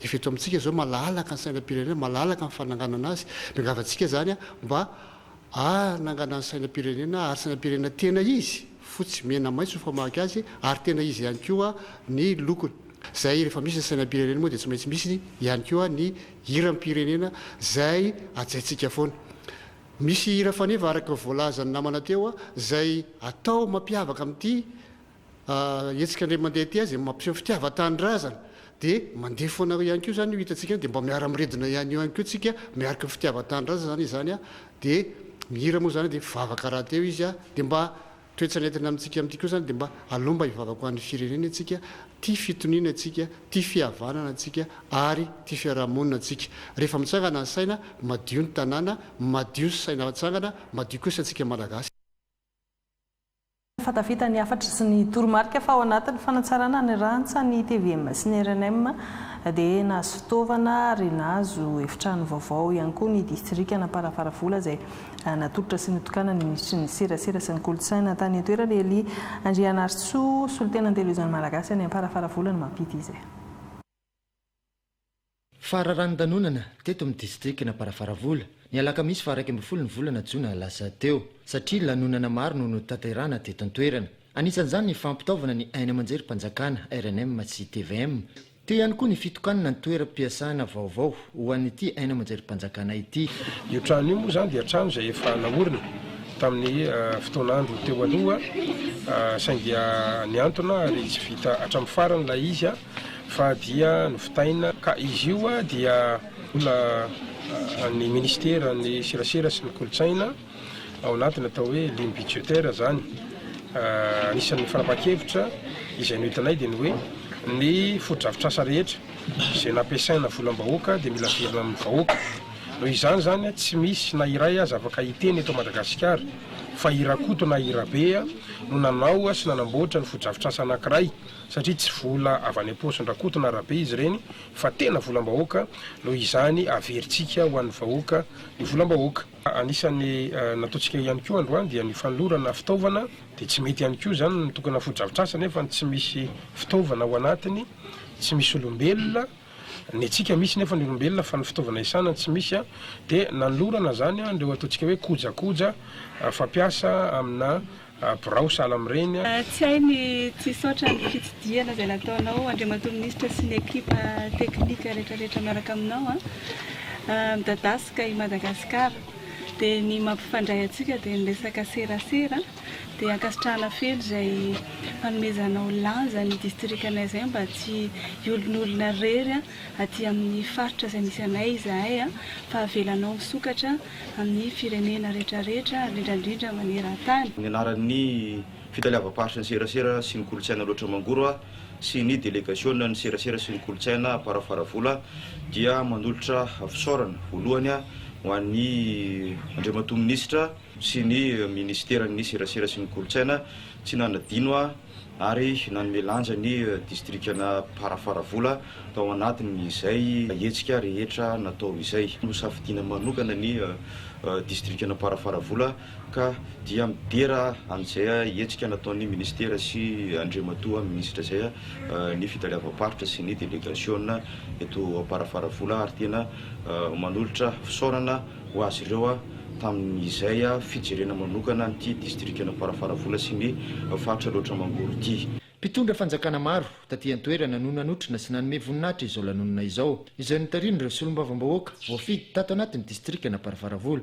Speaker 4: Efa eto amintsika izao malalaka ny sainam-pirenena, malalaka ny fananganana azy. Miangavy antsika izany mba hanangana ny sainam-pirenena ary sainam-pirenena tena izy, fotsy, mena, maitso ny famaky azy ary tena izy ihany koa ny lokony. Izay rehefa misy ny sainam-pirenena moa dia tsy maintsy misy ihany koa ny hiram-pirenena izay hajaintsika foana. Misy hira faneva araka ny voalazan'ny namana teo izay atao mampiavaka amin'ity hetsika indray mandeha aty izay mampiseho fitiavan-tanindrazana dia mandeha foana eo ihany koa izany io hitantsika io dia mba miara miredona ihany eo ihany koa tsika miaraka ny fitiavan-tanindrazana izany izany a dia mihira moa izany dia mpivavaka rahateo izy a dia mba toetsany entina amintsika amin'ity koa izany dia mba aleo mba hivavaka ho an'ny firenena isika tia fitoniana isika tia fihavanana isika ary tia fiaraha-monina isika rehefa mitsangana ny saina madio ny tanàna madio ny saina mitsangana madio koa ny saintsika malagasy. fa
Speaker 1: tafita ny hafatra sy ny toromarika fa ao anatin'ny fanatsarana ny rantsa ny tvm sy ny rnm dia nahazo fitaovana ary nahazo efitrano vaovao ihany koa ny distrikan'Amparafaravola izay natolotra sy notokana ny minisitry ny serasera sy ny kolontsaina tany an-toerana Elie Andrianarisoa solontenan'Televiziona Malagasy any Amparafaravola no mampity izay.
Speaker 22: Fararanodanonana teto amin'ny distrikan'Amparafaravola, ny alakamisy faha iraika ambin'ny folo ny volana jona lasa teo, satria lanonana maro no notanterahana teto an-toerana. Anisan'izany ny fampitaovana ny haino aman-jerim-panjakana, rnm sy tvm. Teo ihany koa ny fitokanana ny toeram-piasana vaovao ho an'ity haino aman-jerim-panjakana ity. Io trano io moa
Speaker 23: izany dia trano izay efa naorina tamin'ny fotoan'andro teo aloha, saingy nihantona ary tsy vita hatramin'ny farany ilay izy. fa dia novitaina ka izy io dia vola an'ny ministeran'ny serasera sy ny kolontsaina ao anatin'ny atao hoe ligne budgétaire izany. Anisan'ny fanapahan-kevitra izay nohitanay dia ny hoe ny fotodrafitrasa rehetra izay nampiasaina volam-bahoaka dia mila averina amin'ny vahoaka. Noho izany izany tsy misy na iray aza afaka hiteny eto Madagasikara fa i Rakoto na i Rabe no nanao sy nanamboatra ny fotodrafitrasa anankiray satria tsy vola avy any am-paosin-dRakoto na Rabe izy ireny fa tena volam-bahoaka, noho izany averintsika ho an'ny vahoaka ny volam-bahoaka. Anisan'ny nataontsika ihany koa androany dia ny fanolorana fitaovana, dia tsy mety ihany koa izany ny mitokana fotodrafitrasa nefa tsy misy fitaovana ao anatiny, tsy misy olombelona, ny antsika misy nefa ny olombelona fa ny fitaovana hiasana tsy misy, dia nanolorana izany ireo ataontsika hoe kojakoja fampiasa amina Birao sahala amin'ireny a. Tsy hay ny
Speaker 24: tsy hisaotra ny fitsidihana izay nataonao Andriamatoa Minisitra sy ny ekipa teknika rehetra rehetra miaraka aminao a. Midadasika i Madagasikara dia ny mampifandray antsika dia ny resaka serasera dia ankasitrahana feno izay fanomezanao lanja ny distrikanay izay mba tsy hiolonolona irery aty amin'ny faritra izay misy anay izahay a fa avelanao misokatra amin'ny firenena rehetrarehetra ary indrindra indrindra maneran-tany. Ny anaran'ny
Speaker 3: fitaleavam-paritry ny serasera sy ny kolontsaina Aloatra Mangoro a sy ny delegasionan'ny serasera sy ny kolontsaina Amparafaravola dia manolotra fisaorana voalohany ho an'i Andriamatoa Minisitra sy ny Minisiteran'ny serasera sy ny kolontsaina tsy nanadino ary nanome lanja ny distrikan'i Parafaravola tao anatin'izay hetsika rehetra natao izay. Nosafidiana manokana ny distrikan'i Parafaravola ka dia midera an'izay hetsika nataon'ny Ministera sy Andriamatoa Minisitra izay ny Fitaleavam-paritra sy ny Delegasiona eto Parafaravola ary tena manolotra fisaorana ho azy ireo tamin' izay fijerena manokana an' ity distrikan' Amparafaravola sy ny faritra Alaotra Mangoro ity. Mpitondra fanjakana
Speaker 22: maro taty an-toerana no nanotrona sy nanome voninahitra izao lanonana izao, izay notarihin' ireo solombavambahoaka voafidy tato anaty ny distrikan' Amparafaravola.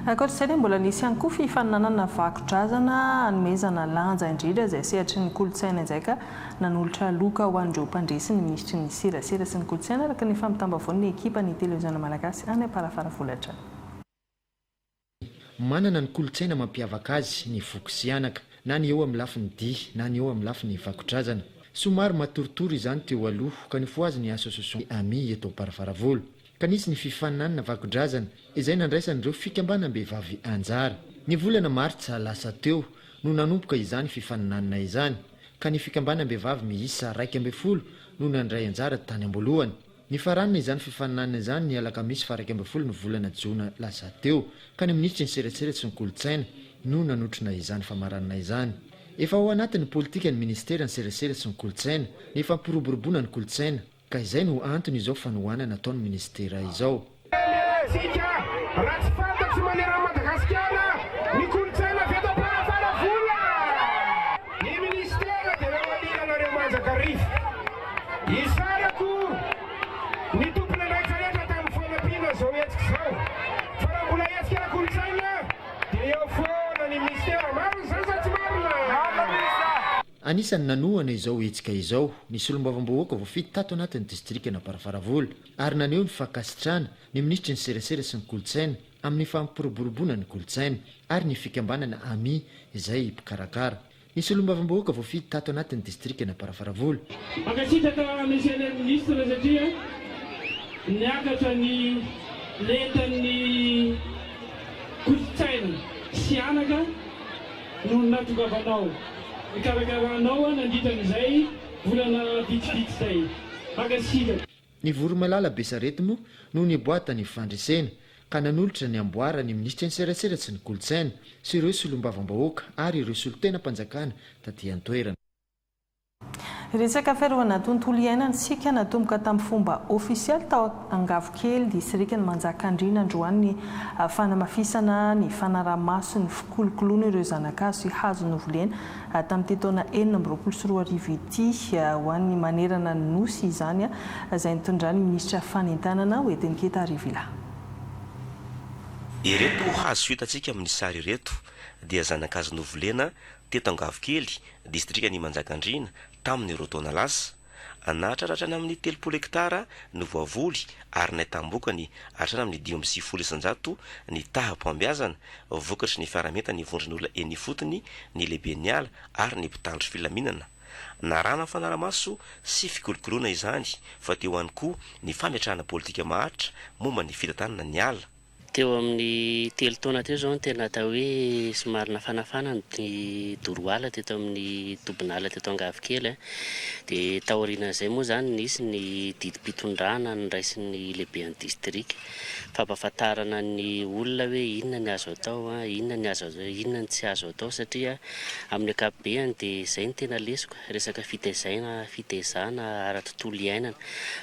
Speaker 1: Ankoatra izay dia mbola nisy ihany koa fifaninanana vakodrazana hanomezana lanja indrindra izay sehatry ny kolontsaina izay ka Nanolotra loka ho an'ireo mpandresy ny minisitry ny Serasera sy ny kolontsaina araka ny fampitam-baovaon'ny ekipan'ny Teleozana Malagasy any Amparafara Volatrany.
Speaker 22: Manana ny kolontsaina mampiavaka azy ny voky sy anaka, na ny eo amin'ny lafiny dihy na ny eo amin'ny lafiny vakodrazana. Somary matoritory izany teo aloha ka nifohazy ny Association Amis eto Amparafaravola. ka nisy ny fifaninanana vakodrazana izay nandraisan'ireo fikambanam-behivavy anjara. Ny volana martsa lasa teo no nanomboka izany fifaninanana izany ka ny fikambanam-behivavy miisa iraika ambin'ny folo no nandray anjara tany am-boalohany. Nifaranana izany fifaninanana izany ny alakamisy faharaika ambin'ny folo ny volana jona lasa teo ka ny minisitry ny serasera sy ny kolontsaina no nanotrona izany famaranana izany. Efa ao anatin'ny politika ny minisitera ny serasera sy ny kolontsaina, ny fampiroboroboana ny kolontsaina, Ka izay no antony izao fanohanana ataon'ny minisitera izao. Tany ialahintsika raha tsy fantatry manerana an'i Madagasikara ny kolontsaina avy eto Amparafaravola. Ny minisitera dia namaliana anareo manjakarivo. Isarako ny tompon'andraikitra rehetra tamin'ny fanampiana izao hetsika izao fa raha mbola hetsika ara-kolontsaina dia eo foana ny minisitera. Marina izany sa tsy marina? Anisan'ny nanohana izao hetsika izao ny solombavambahoaka voafidy tato anatin'ny distrikan'Amparafaravola ary naneho ny fankasitrahana ny minisitry ny Serasera sy ny Kolontsaina amin'ny fampiroboroboana ny kolontsaina ary ny fikambanana Ami izay mpikarakara ny solombavambahoaka voafidy tato anatin'ny distrikan'Amparafaravola. Mankasitraka
Speaker 5: Monsieur le Ministre satria niakatra ny lentan'ny kolontsaina sy anaka. no nahatongavanao nikarakara anao nandritra an'izay volana vitsivitsy izay. Mankasitraka. Ny voromailala
Speaker 22: Besarety moa no niboaha tany fandresena ka nanolotra ny amboara ny minisitry ny serasera sy ny kolontsaina sy ireo solombavam-bahoaka ary ireo solontenam-panjakana taty an-toerana.
Speaker 1: Resaka fiarovana tontolo iainana isika natomboka tamin'ny fomba ofisialy tao Angavokely, Disrikan'i Manjakandriana androany ny fanamafisana ny fanaraha-maso ny fikolokoloana ireo zana-kazo sy hazo novolena tamin'ity taona enina amby roapolo sy roa arivo ity ho an'ny manerana ny Nosy izany izay nitondran'ny Minisitra Fanentanana Oetenketa Arivila.
Speaker 14: Ireto hazo hitantsika amin'ny sary ireto dia zana-kazo novolena teto Angavokely, distrikan' Imanjakandriana, tamin' ireo taona lasa. Nahatraratra any amin' ny telopolo hektara ny voavoly ary nahitam-bokany hatrany amin' ny dimy amby sivifolo isan-jato ny taham-pahombiazana, vokatry ny fiaraha-mientan' ny vondron' olona eny ifotony, ny lehiben' ny ala ary ny mpitandro filaminana. Narahana fanaramaso sy fikolokoloana izany, fa teo ihany koa ny fametrahana pôlitika maharitra momba ny fitantanana ny ala. Teo amin'ny
Speaker 6: telo taona teo izao no tena atao hoe somary nafanafana ny doroala teto amin'ny tobin'ala teto Angavikely. Dia taorianan'izay moa izany nisy ny didim-pitondrana noraisin'ny lehiben'ny distrika. Fampahafantarana ny olona hoe inona ny azo atao, inona ny azo, inona ny tsy azo atao satria amin'ny ankapobeny dia izay no tena lesoka. resaka fitaizaina, fitaizana ara-tontolo iainana.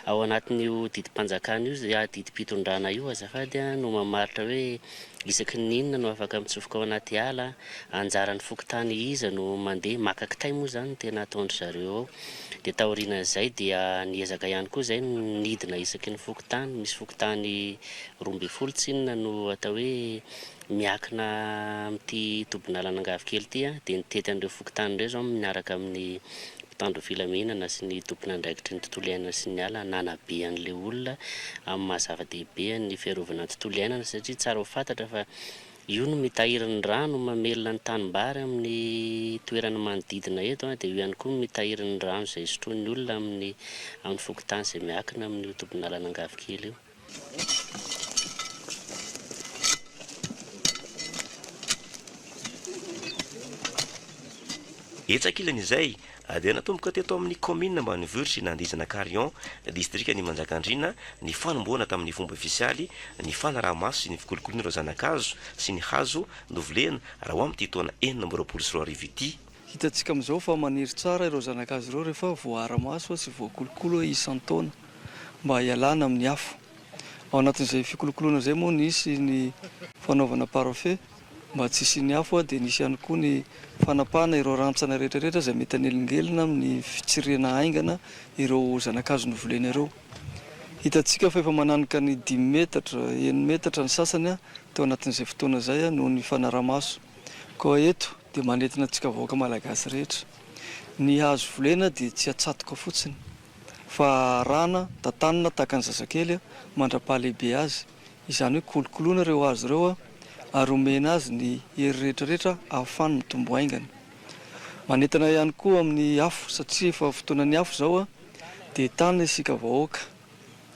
Speaker 6: Ao anatin'io didim-panjakana io, didim-pitondrana io azafady an, no mamaritra hoe isaky ny inona no afaka mitsofoka ao anaty ala, anjaran'ny fokontany iza no mandeha, maka kitay moa izany no tena ataon-dry zareo ao. Dia taorianan'izay dia niezaka ihany koa izay ny nidina isaky ny fokontany, misy fokontany roa ambin'ny folo tsinona no atao hoe Miankina amin'ity tobin'alan'Angavokely ity dia nitety an'ireo fokontany ireo izao miaraka amin'ny mpitandro filaminana sy ny tompon'andraikitry ny tontolo iainana sy ny ala nanabe an'ilay olona amin'ny maha zava-dehibe ny fiarovana ny tontolo iainana satria tsara ho fantatra fa io no mitahiry ny rano mamelona ny tanimbary amin'ny toerana manodidina eto dia io ihany koa no mitahiry ny rano izay sotroin'ny olona amin'ny amin'ny fokontany izay miankina amin'io tobin'alan'Angavokely io.
Speaker 14: Etsy ankilan'izay, dia natomboka teto amin'ny kaominina ambanivohitr'i Nandizana Carion, distrikan'i Manjakandriana, ny fanombohana tamin'ny fomba ofisialy ny fanaraha-maso sy ny fikolokoloana ireo zana-kazo sy ny hazo novolena raha ho amin'ity taona enina amby roapolo sy roa arivo ity. Hitantsika amin'izao fa
Speaker 2: maniry tsara ireo zana-kazo ireo rehefa voaara-maso sy voakolokolo isan-taona. mba hialana amin'ny afo. Ao anatin'izay fikolokoloana izay moa nisy ny fanaovana parfait mba tsy hisian'ny afo dia nisy ihany koa ny fanapahana ireo rantsana rehetrarehetra izay mety hanelingelina amin'ny fitsirihana haingana ireo zanakazo novolena ireo. Hitantsika fa efa mananika ny dimy metatra, enina metatra ny sasany teo anatin'izay fotoana izay noho ny fanaramaso. Koa eto dia manentana antsika vahoaka malagasy rehetra. Ny hazo volena dia tsy atsatoka fotsiny. Fa arahana, tantanina tahaka ny zazakely mandra-pahalehibe azy, izany hoe kolokoloina ireo hazo ireo ary omena azy ny hery rehetrarehetra ahafahany mitombo haingana. Manentana ihany koa amin'ny afo satria efa fotoanan'ny afo izao dia tana isika vahoaka.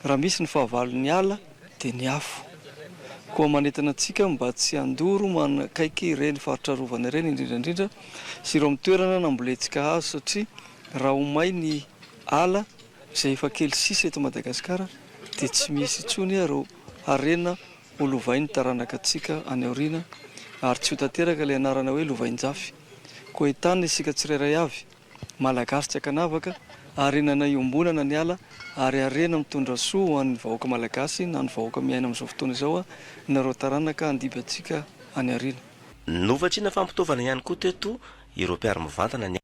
Speaker 2: Raha misy ny fahavalon'ny ala dia ny afo. Koa manentana antsika mba tsy handoro manakaiky ireny faritra arovana ireny indrindra indrindra sy ireo amin'ny toerana nambolentsika hazo satria raha ho may ny ala izay efa kely sisa eto Madagasikara dia tsy misy intsony ireo harena ho lovain'ny taranaka antsika any aoriana ary tsy ho tanteraka ilay anarana hoe lovainjafy. Koa entana isika tsirairay avy. Malagasy tsy ankanavaka, harena na iombona na ny ala, ary harena mitondra soa ho an'ny vahoaka Malagasy na ny vahoaka miaina amin'izao fotoana izao aho, nareo taranaka handiby antsika any aoriana. Novatsiana
Speaker 14: fampitaovana ihany koa teto ireo mpiaro mivantana ny.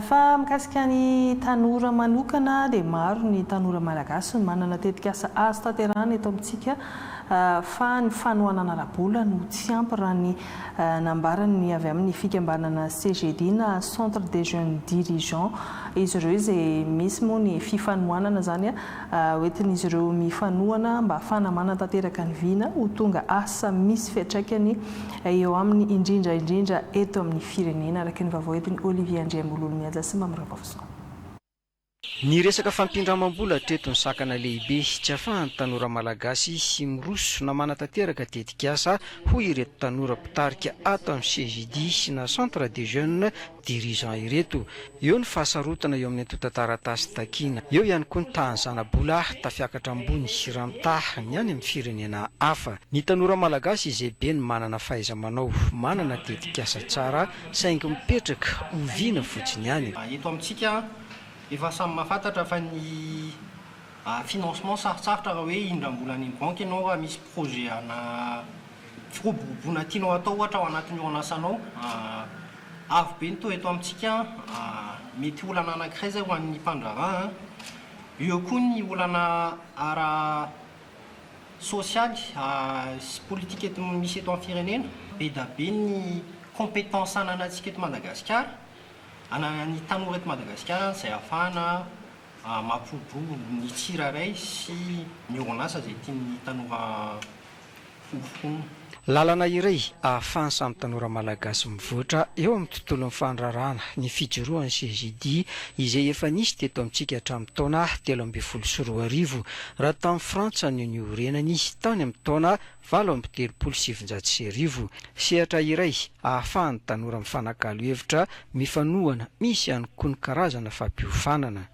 Speaker 1: Fa mikasika ny tanora manokana dia maro ny tanora malagasy no manana tetikasa azo tanterahana eto amintsika fa ny fanohanana ara-bola no tsy ampy raha ny nambaran'ny avy amin'ny fikambanana CGD na Centre des Jeunes Dirigeants izy ireo izay misy moa ny fifanohanana izany hoentin'izy ireo mifanohana mba ahafahana manatanteraka ny vina ho tonga asa misy fiantraikany eo aminy indrindra indrindra eto amin'ny firenena, araka ny vaovao entin'i Olivier Andriambololimihaja sy Mamy Ravaozoa.
Speaker 7: Ny resaka fampindramam-bola hatreto no sakana lehibe tsy afahan'ny tanora malagasy sy miroso na manatanteraka tetikasa, hoy ireto tanora mpitarika ato amin'ny CJDIS na Centre des Jeunes, dirigeants ireto. Eo ny fahasarotana eo amin'ny antontan-taratasy takiana. Eo ihany koa ny tahan'ny zana-bolah tafiakatra ambony sy rantah ny any amin'ny firenena hafa. Ny tanora malagasy izay be ny manana fahaiza-manao, manana tetikasa tsara saingy mipetraka oviana fotsiny any. Eto amintsika
Speaker 8: efa samy mahafantatra fa ny financement sarotsarotra raha hoe indram-bola any amin'ny banky ianao raha misy projet ana firoboroboana tianao hatao ohatra ao anatin'ny orin'asanao. Avo be ny toa eto amintsika an! Mety olana anankiray izay ho an'ny mpandraharaha an! Eo koa ny olana ara sosialy sy politika eto misy eto amin'ny firenena. Be da be ny compétence ananantsika eto Madagasikara, ananan'ny tanora eto Madagasikara an! izay ahafahana mampihobobo ny tsirairay sy ny orinasa izay tian'ny tanora fofona. Lalana
Speaker 7: iray ahafahan'ny samy tanora malagasy mivoatra eo amin'ny tontolon'ny fandrarahana ny fijoroan'ny CGDI izay efa nisy teto amintsika hatramin'ny taona telo ambin'ny folo sy roa arivo raha tany Frantsa no niorenany tany amin'ny taona valo amby telopolo sy sivinjato sy arivo. Sehatra iray ahafahan'ny tanora mifanakalo hevitra mifanohana misy ihany koa ny karazana fampiofanana.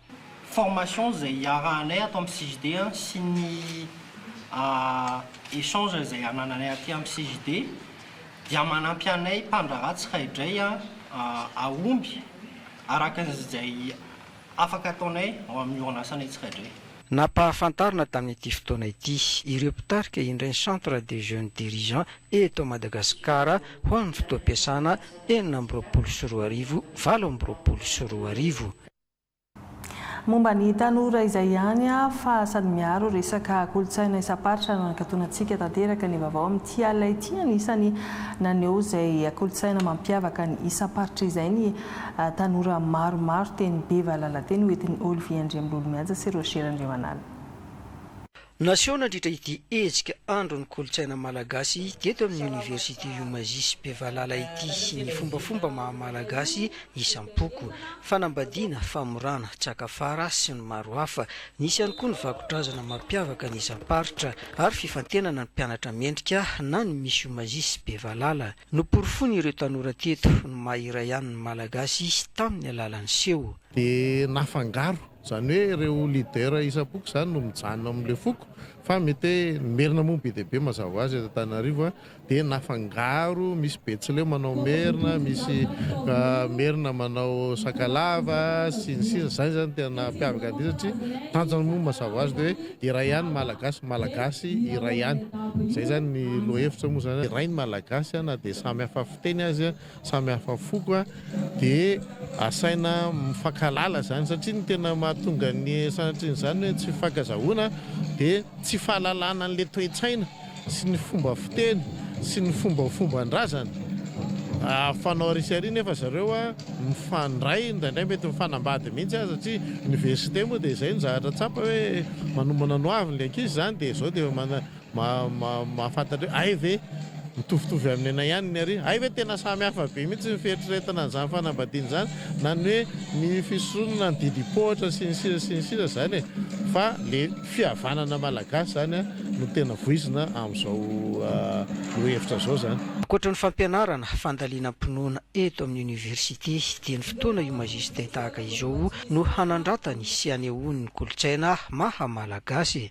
Speaker 7: formation
Speaker 8: izay hiarahanay ato amin'ny CJD sy ny échange izay anananay aty amin'ny CJD dia manampy anay mpandraharaha tsiraidray hahomby araka izay afaka ataonay ao amin'ny orinasanay tsiraidray. Nampahafantarina
Speaker 7: tamin'ity fotoana ity ireo mpitarika indray ny Centre des Jeunes Dirigeants eto Madagasikara ho an'ny fotoam-piasana enina amby roapolo sy roa arivo, valo amby roapolo sy roa arivo.
Speaker 1: Momba ny tanora izay ihany aho fa sady miaro resaka kolontsaina isam-paritra no nakatonantsika tanteraka ny vaovao amin'ity alina ity. Anisany naneho izay kolontsaina mampiavaka ny isam-paritra izay ny tanora maromaro teny Beva Lalateny hoentin'i Olivier Andriambololimihaja sy Roger Randriamanana.
Speaker 7: Naseho nandritra ity hetsika andron'ny kolontsaina malagasy teto amin'ny Oniversite Umazy sy Bevalala ity ny fombafomba maha malagasy isam-poko, fanambadiana, famorana, tsakafara sy ny maro hafa. Nisy ihany koa ny vakodrazana mampiavaka ny isam-paritra ary fifantenana ny mpianatra mendrika na ny Miss Umazy sy Bevalala. Noporofoin'ireo tanora teto ny maha iray ihany ny malagasy tamin'ny alalan'ny seho. Dia
Speaker 10: nafangaro Izany hoe ireo leader isam-poko izany no mijanona ao amin'ilay foko fa mety hoe ny merina moa be dia be mazava ho azy eto Antananarivo dia nafangaro misy betsileo manao merina, misy merina manao sakalava sy ny sisa izany izany tena nahampiavaka an'ity satria tanjona moa mazava ho azy dia hoe iray ihany Malagasy, Malagasy iray ihany izay izany ny lohahevitra moa izany iray ny Malagasy na dia samy hafa fiteny aza samy hafa foko dia asaina mifankahalala izany satria ny tena mahatonga ny sanatrin'izany hoe tsy fifankazahoana dia tsy fahalalana an'ilay toe-tsaina sy ny fomba fiteny sy ny fombafomban-drazana ahafanao ary sy ary nefa zareo a mifandray indraindray mety mifanambady mihitsy aza satria université moa dia izay ny zavatra tsapa hoe manomana ny hoaviny ilay ankizy izany dia izao dia mana Mahafantatra hoe hay ve mitovitovy amin'ny anay ihany ny aretina? Hay ve tena samy hafa be mihitsy ny fieritreretana an'izany fanambadiana izany na ny hoe ny fisoronana na ny didim-pohatra sy ny sisa sy ny sisa izany e! Fa le fihavanana malagasy izany no tena voizina amin'izao lohahevitra izao izany. Ankoatra ny fampianarana,
Speaker 7: fandalinam-pinoana eto amin'ny Oniversite dia ny fotoana io Majesté tahaka izao no hanandratany sy hanehoany ny kolontsaina maha Malagasy.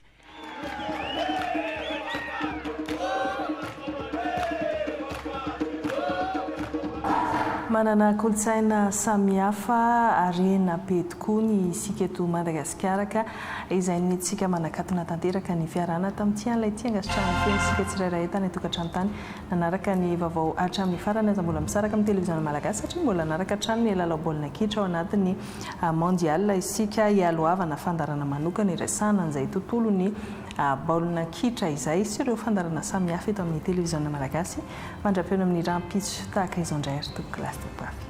Speaker 1: Manana kolontsaina samihafa, harena be tokoa ny isika eto Madagasikara ka izay no nentintsika manakatona tanteraka ny fiarahana tamin'ity an'ilay tia angasitranany feno isika tsirairay tany an-tokantrano tany. Nanaraka ny vaovao hatramin'ny farany aza mbola misaraka amin'ny televiziona malagasy satria mbola hanaraka hatrany ny lalao baolina kitra ao anatin'ny Mondial isika hialohavana fandarana manokana iresahana an'izay tontolon'ny baolina kitra izay sy ireo fandarana samihafa eto amin'ny televiziona malagasy mandra-peo ny amin'ny rampitso tahaka izao indray ry tompoko Lastibafy.